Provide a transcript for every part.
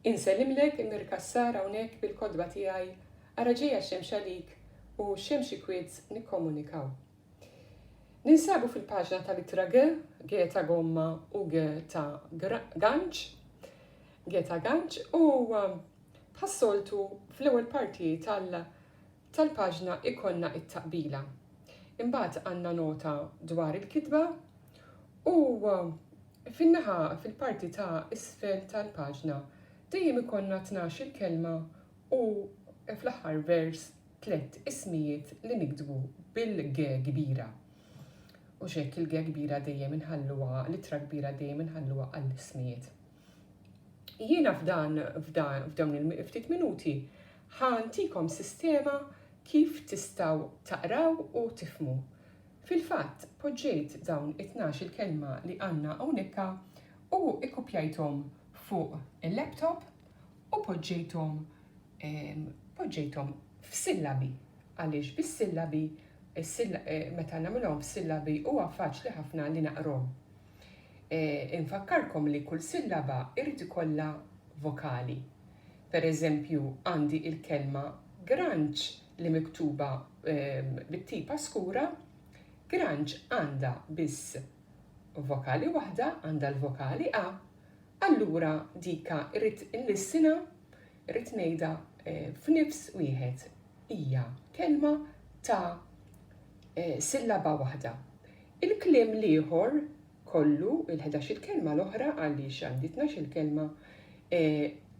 Insellimlek Mir Cassar hawnhekk bil-kotba tiegħi Ara ġejja x-xemx għalik u x-xemx ikwietz nikkomunikaw. Ninsabu fil-paġna ta' l-ittra G, G ta' gomma u G ta' ganċ, G ta' ganċ, u bħas-soltu fl-ewwel parti tal- tal-paġna ikollna t-taqbila. Imbagħad għandna nota dwar il-kitba u fin-naħa fil-parti ta' isfel tal-paġna dejjem ikollna tnax-il kelma u fl-aħħar vers tliet ismijiet li niktbu bil-G kbira. U x'hekk il-G kbira dejjem inħalluha, l-ittra kbira dejjem inħalluha għall-ismijiet. Jiena f'dan, f'dawn il-ftit minuti, ħa ntikom sistema kif tistgħu taqraw u tifhmu. Fil-fatt, poġġejt dawn it-tnax-il kelma li għandna hawnekka u ikkupjajthom fuq il-laptop u poġġejthom, poġġejthom f'sillabi, għaliex bis-sillabi, meta nagħmilhom f'sillabi huwa faċli ħafna li naqrhom. Infakkarkom li kull sillaba jrid ikollha vokali. Per eżempju, għandi il-kelma granċ li miktuba bit-tipa skura, granċ għandha biss vokali waħda, għandha l-vokali a, allura dika rrid inlissinha, rrid ngħidha f'nifs wieħed. Hija kelma ta' sillaba waħda. Il-kliem l-ieħor kollu, il-ħdax-il kelma l-oħra, għaliex għandi tnax-il kelma,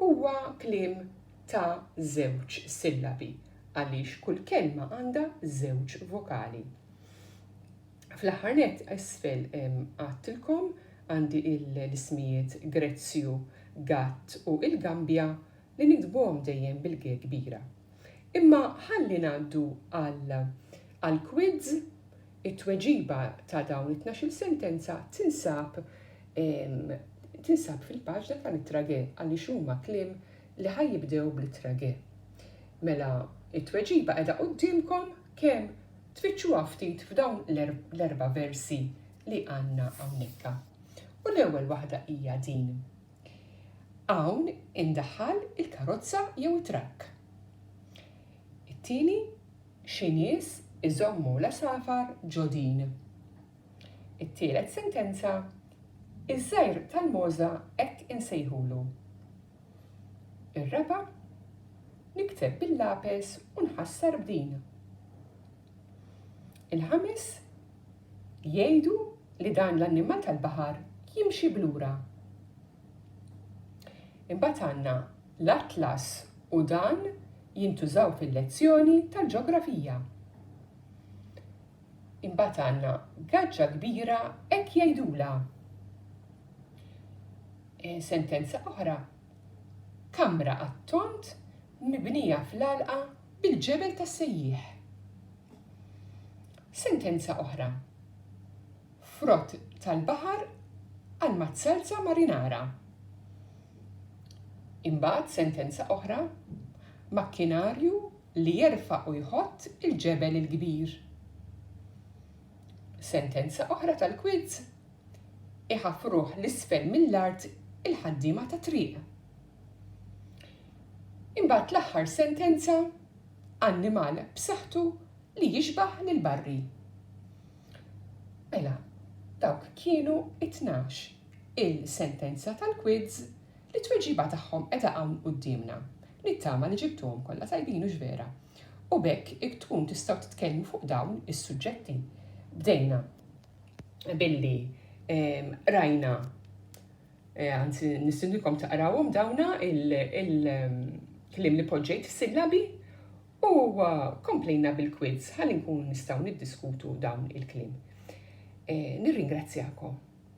huwa kliem ta' żewġ sillabi, għaliex kull kelma għandha żewġ vokali. Fl-aħħar nett, isfel għadtilkom għandi l-ismijiet Grezzju, Gatt u il-Gambja li niktbuhom dejjem bil-G kbira. Imma ħalli ngħaddu għal għall-quiz. It-tweġiba ta' dawn it-tnax-il sentenza tinsab tinsab fil-paġna ta' l-ittra ge għaliex huma kliem li ħa jibdew bl-ittra ge. Mela, it-tweġiba qiegħda quddiemkom kemm tfittxuha ftit f'dawn l-erba' versi li għandna hawnhekka. U l-ewwel waħda hija din. Hawn indaħħal il-karozza jew it-trakk. It-tieni, xi nies iżommu l-għasafar ġo din. It-tielet sentenza, iż-żgħir tal-mogħża hekk insejħulu. Ir-raba', nikteb bil-lapes u nħassar b'din. Il-ħames, jgħidu li dan l-annimal tal-baħar jimxi b'lura. Imbagħad għandna l-atlas u dan jintużaw fil-lezzjoni tal-ġografija. Imbagħad għandna gaġġa kbira hekk jgħidulha. E, sentenza oħra kamra għat-tont mibnija fl-għalqa bil-ġebel tas-sejjieħ. Sentenza oħra, frott tal-baħar għal mazzalza marinara. Imbagħad sentenza oħra, makkinarju li jerfa' u jħott il-ġebel il-kbir. Sentenza oħra tal-kwiz iħaffruh 'l isfel mill-art il-ħaddiema tat-triq. Imbagħad l-aħħar sentenza, annimal b'saħħtu li jixbah lil Barry. Mela, dawk kienu it-tnax il-sentenza tal-quiz li t-tweġiba tagħhom qiegħda hawn quddiemna. Nittama li ġibtuhom kollha tajbin u x'vera. U b'hekk tkun tistgħu titkellmu fuq dawn is-suġġetti. Bdejna. billi rajna eh, anzi nistindikom taqrawhom dawna il-klim li poġġejt fis-sillabi u eh, komplejna bil-quiz ħalli nkun nistgħu niddiskutu dawn il-klim. Eh, nirringrazzjakom.